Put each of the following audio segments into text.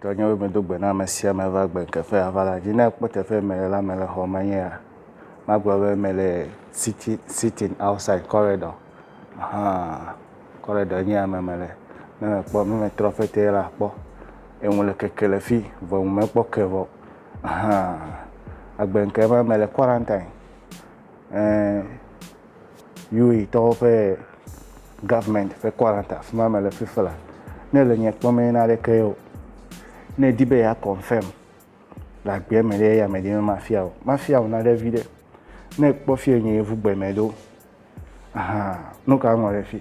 Tɔ nye be medo gbe na ame sia ame va gbe teƒe ava la dzi. Ne ekpɔ teƒe mele la, mele xɔ me nye ya. Magblɔ be mele sitting, sitting outside corridor. Ahaa, corridor nye ya me mele. Ne mekpɔ, ne metrɔ ƒe te la akpɔ. Eŋu le keke le fi vɔ ŋu mekpɔ ke vɔ. Ahan, egbe ŋkee ma mele quarantine. Ɛɛ, UE tɔwo ƒe government ƒe quarantine afi ma mele fifi le. Ne le nye kpɔ me na ɖeke ye o. Ne edi be ya confirm le agbe me ɖe ya me ɖe ma fia o. Ma fia o na ɖe vi ɖe. Ne kpɔ fie nye yevu gbe me ɖo. Ahan, nuka ŋlɔ ɖe fi?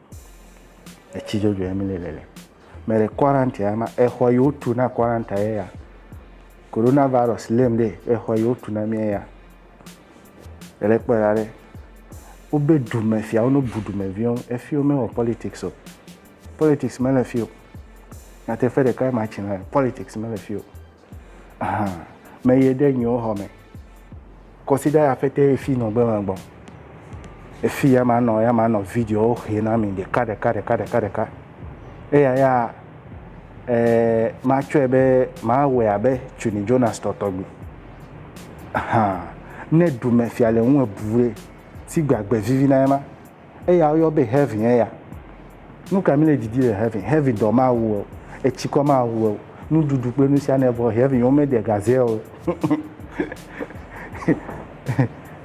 Etsi dzodzoe ya mi le lele. Me le quarantine ya ma exɔ yi wotu na quarantine ye ya. Corona virus lém ɖe exɔ yi wotu na mía ya. Ele kpɔe la ɖe. Wobe dumefiawo no bu dumeviwo. Efiwo me wɔ politics o. Politics me le fi o. Nyateƒe ɖeka ye ma tsi na politics me le fi o. Hã, meye ɖe nyewo xɔ me. Kɔsida ya fete efi nɔ gbe me gbɔ. Efi ya ma nɔ ya ma nɔ videowo xe na mi ɖeka ɖeka ɖeka ɖeka ɖeka. Eya ya eh, ma tsɔe be ma wɔe abe Tuni Jonas tɔtɔgbi. Hã, ne dumefia le ŋu ebu ɖe, si gbagbe vivi na ema. Eya woyɔ be heaven eya. Nu ka mi le didi le heaven? Heaven dɔ ma wu o, etsikɔ ma wu o, nuɖuɖu kple nu sia ne vɔ heaven wo me de gaze o.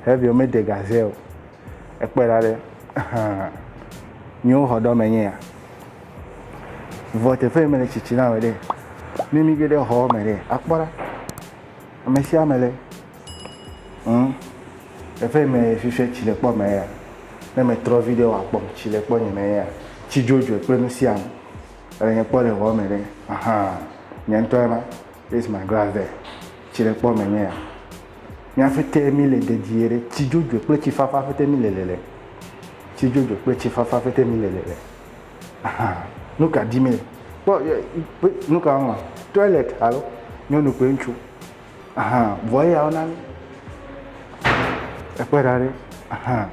heaven wo me de gaze o. Ekpɔe la ɖe. Miwo xɔ ɖɔ me nye ya. Vɔ teƒe yi me le tsitsi na me ɖe. Ne mi ge ɖe xɔ me ɖe, akpɔ ɖa. Ame sia ame le. Humm teƒe yi me fifia tsi le kpɔ me ya ne me trɔ vi ɖe wa kpɔm tsi le kpɔ nye me ya tsi dzodzoe kple nu sia nu ele nye kpɔ le hɔ me ɖe ahan nye ŋutɔ ema this is my glass there tsi le kpɔ me nye ya mía ƒete mi le dedie ɖe tsi dzodzoe kple tsi fafa ƒete mi le lele tsi dzodzoe kple tsi fafa ƒete mi le lele ahan nu ka di mi le kpɔ ye nuka wɔm toilet alo nyɔnu kple ŋutsu. Ahan, vɔ eya wona mí. Ekpɔe ɖa ɖe, ahan,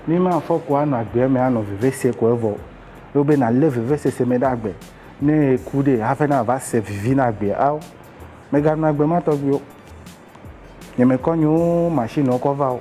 mí ma fɔ ko anɔ agbe me anɔ vevesese ko evɔ o. Elo be nalé vevesese me ɖe agbe ne eku ɖe hafi na va se vivi na agbe ao. Meganɔ agbe ma tɔgbi o. Nye me kɔ nyewo machine wo kɔ va o.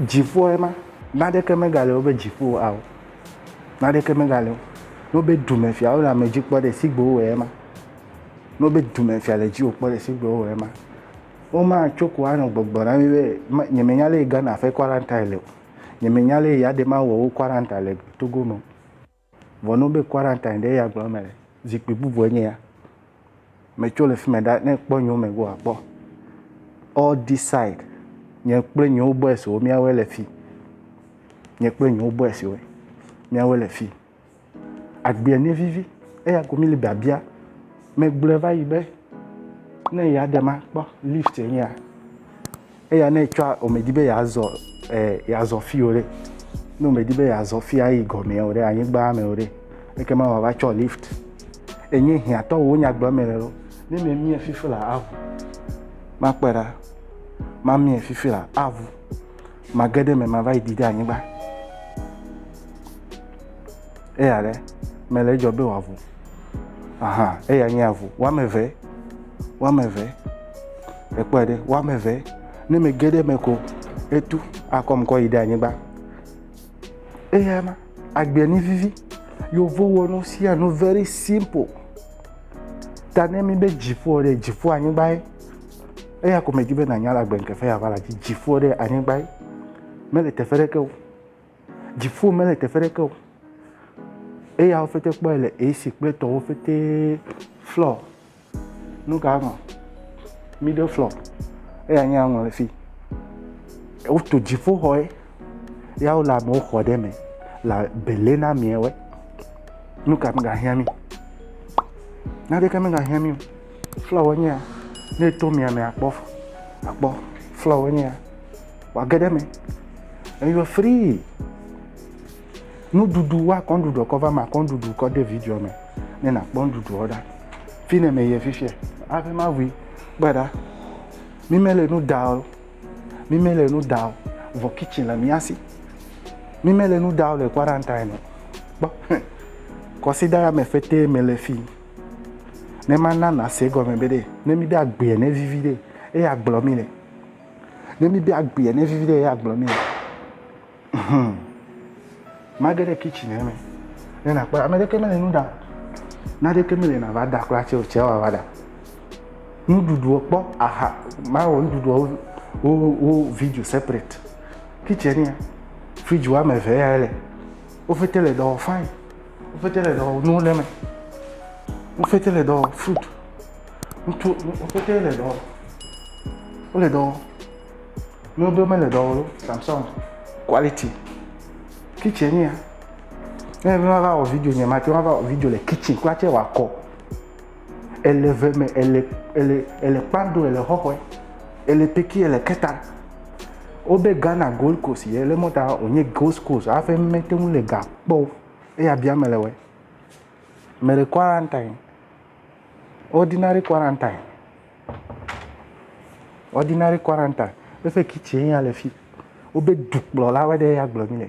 Dziƒoa ye ma. Naɖeke megale wobe dziƒo o ao. Naɖeke megale o. Ne wobe dumefia wole ame dzi kpɔ ɖe si gbe wowɔe ema. Ne wobe dumefia le dziwò kpɔ ɖe si gbe wowɔe ema. Womatso ko anɔ gbɔgblɔ na mí be nyemenya lé Ghana ƒe kwaranta le o. Nyemenya lé ya ɖe mawɔ wo kwaranta le Togo me o. Vɔ ne wobee quarantine ɖe eya gblɔ mele. Zikpui bubue nye ya. Metso le fime ɖa ne ekpɔ nyewo me go akpɔ. All this side nye kple nyewo boys wo miawoe le fi. Nye kple nyewo boys wo miawoe le fi. Agbea ne vivi eya ko mi le biabia. Megblɔe va yi be ne eya ɖem akpɔ lift nye ya. Eya ne etsɔa, womedi be yeazɔ eh, yeazɔ fi o ɖe. Ne womedi be yeazɔ fi ayi gɔmea o ɖe, anyigba me o ɖe, ekema wòava tsɔ lift. Enye hiãtɔwo wo nyagblɔ eme le lo. Ne memie fifi la aʋu. Makpɔe ɖa. Mamie fifi la aʋu. Mage ɖe eme mava yi ɖi ɖe anyigba. eya ɖe mele edzɔ be wòavu aha eya nye avu woame eve woame eve ekpɔe ɖe woame eve ne mege ɖe eme ko etu akɔm kɔ yi ɖe anyigba eya ma agbe ni vivi yevu wɔ nu sia nu very simple ta ne mi be dziƒo ɖe dziƒo anyigba ye eya ko medi be nanya le agbe ŋkeke ya va la dzi dziƒo ɖe anyigba ye mele teƒe ɖeke o. Dziƒo mele teƒe ɖeke o. Eyawo fete kpɔe le esi kple tɔwo fete flɔ. Nu ka nɔ? Middle flɔ. Eya nye aŋɔ le fi. Wotu dziƒoxɔe. Ya wole amewo xɔ ɖe me le bele na ameawo. Nu ka megahiã mi? Naneke megahiã mi o. Flɔwo nye ya. Ne eto mia me akpɔ akpɔ flɔwo nye ya. wòage ɖe eme. And you are free. Nuɖuɖu woakɔ nuɖuɖu kɔ va me akɔ nuɖuɖu kɔ de video me ne nakpɔ nuɖuɖuɔ ɖa. Fi ne meyie fifia aƒe mavui kpɔe ɖa. Mi mele nu ɖa o. Mi mele nu ɖa o. Vɔ kitchen le mía si. Mi mele nu ɖa o le quarantine o. Kpɔ. Kɔsida ya me fetee mele fi. Ne mana nàse gɔme be ɖe ne míɖe agbea ne vivi ɖe eye agblɔ mí le. Ne mi bia gbea ne vivi ɖe ya gblɔ mi. Hmm. Mage ɖe kitchen eme. Ne na kpɔ ame ɖeke mele nu ɖa. Na ɖeke mele na va da kpla tse o tse wa va da. Nuɖuɖu kpɔ aha ma wɔ nuɖuɖu wo wo video separate. Kitchen ya. Fridge wa me ve ya le. Wo fete le dɔ fine. Wo fete le dɔ nu le me. Wo fete le dɔ fruit. Ŋutsu, wotete le dɔ wɔm. Wole dɔ wɔm. Ye woɖo mele dɔ wɔm o. Samsung quality. Kitchen ye ya. Ne enye be mava wɔ video nye mate ŋu ava wɔ video le kitchen kura tsɛ wòakɔ. Ele eve me, ele ele ele kpando, ele xɔxɔe, ele peki, ele keta. Wobe Ghana Gold Coast ye le mɔ ta wònye Gold Coast hafi mete ŋu le ga kpɔ o. Eya biam mele wɔe. Mele quarantine. Ordinary quarantine, ordinary quarantine, eƒe kitchen ye ya le fi. Wobe dukplɔlawo ɖe ya gblɔ nɛ.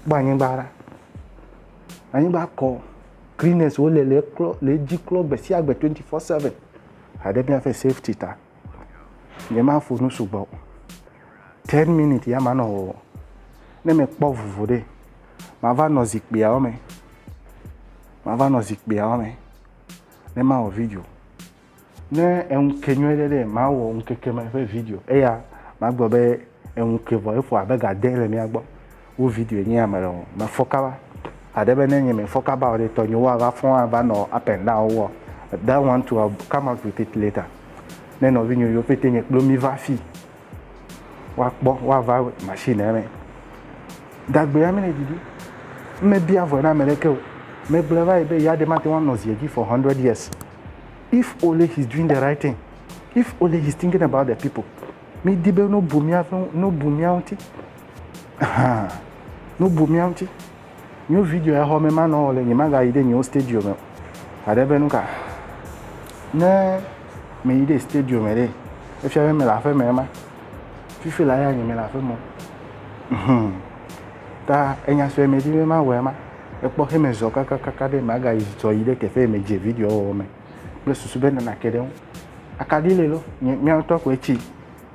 Kpɔ anyigba ɖa. Anyigba kɔ. Cleaners wo le le eklɔ le edzi klɔ gbe sia gbe twenty four seven. Haɖe míaƒe safety ta. Nyemaƒo nu sugbɔ o. Ten minutes ya manɔ wɔwɔ. Ne mekpɔ vovo ɖe, mava nɔ zikpuiawo me. mava nɔ zikpuiawo me ne mawɔ video. Ne eŋu ke nyuie ɖe ɖe mawɔ ŋkeke me ƒe video eya magblɔ be eŋu ke vɔ eƒo abe ga de le mía gbɔ. Wo video nye ame le wɔm. Me fɔ kaba. Aɖe be ne nye me fɔ kaba o ɖe tɔ nye woava fɔ ava nɔ up and down wɔ. That one to come out with it later. Ne nɔvi nyo yio pɛtɛ nye kplo mi va fi woakpɔ woava machine eme gagbea mi le ɖiɖi mme bia vɔ na ame ɖeke o me gblɔ va yi be ya ɖe mate ŋu anɔ zie dzi for hundred years if only he is doing the right thing if only he is thinking about the people mi di be no bu mia no bu mia ŋuti no bu mia ŋuti. New video ya xɔ me ma nɔ le nye maga yi de nyewo stadium me. Aɖe be nuka. Ne me yi de stadium me de. Efia be me la fe me ma. Fifi la ya nye me la fe mo. Hmm. Ta enya sue me di me ma wɔ ma. Ekpɔ xe me zɔ kaka kaka de maga yi zɔ yi de tefe me je video wɔ me. Ble susu be nana ke de. Akadi le lo. Nye mia to ko echi.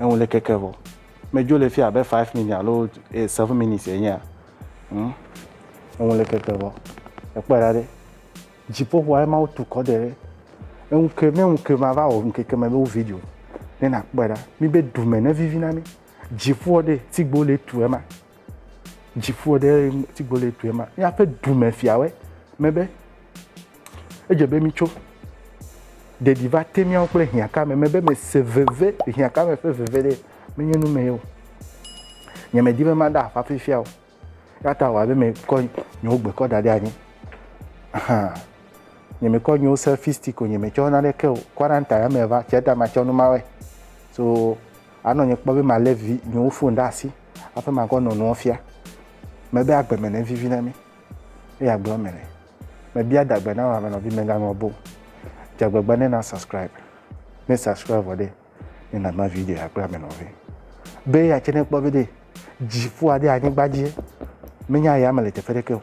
Eŋu le keke vɔ. Medzo le fi abe five minutes alo eh, seven minutes enyea. Hmm? Eŋu le keke vɔ. Ekpɔe ɖa ɖe. Dziƒoxɔa ema wotu kɔ de ɖe. Eŋu ke ne ŋu ke va va wɔ ŋkeke me be wo video. Ne nakpɔe ɖa. Mi be dume ne vivi na mi. Dziƒoa ɖe tigbo le tu ema. Dziƒo ɖe ŋuti gbole tue ma. Míaƒe dumefiawoe mebe edze be mítso. Ɖeɖi va te míawo kple hiãkame mebe mese veve, hiãkame ƒe veve ɖe menye nu me ye o. Nyemedi be maɖe aƒa fifia o. Eya ta wɔ abe mekɔ nye wogbe kɔ da ɖe anyi. Ahan. Nyemekɔ nye wo selfie stick o, nyemetsɔ naneke o. Quarantine me va, tsia ta matsɔ nu mawɔe. So Anɔ nye kpɔ be malé vi nyewo fon ɖe asi hafi makɔ nɔ nua fia. Mebe agbe me ne vivi na mi. Eye agblɔ me ne. Mebia dagbe na wò ame nɔvi meganɔ bo. Dzagbegbe ne na subscribe. Ne subscribe vɔ ɖe, ne nana video ya kple ame nɔvi. Be ya tse ne kpɔ be ɖe dziƒoa ɖe anyigba dzie. Menya ya me le teƒe ɖeke o.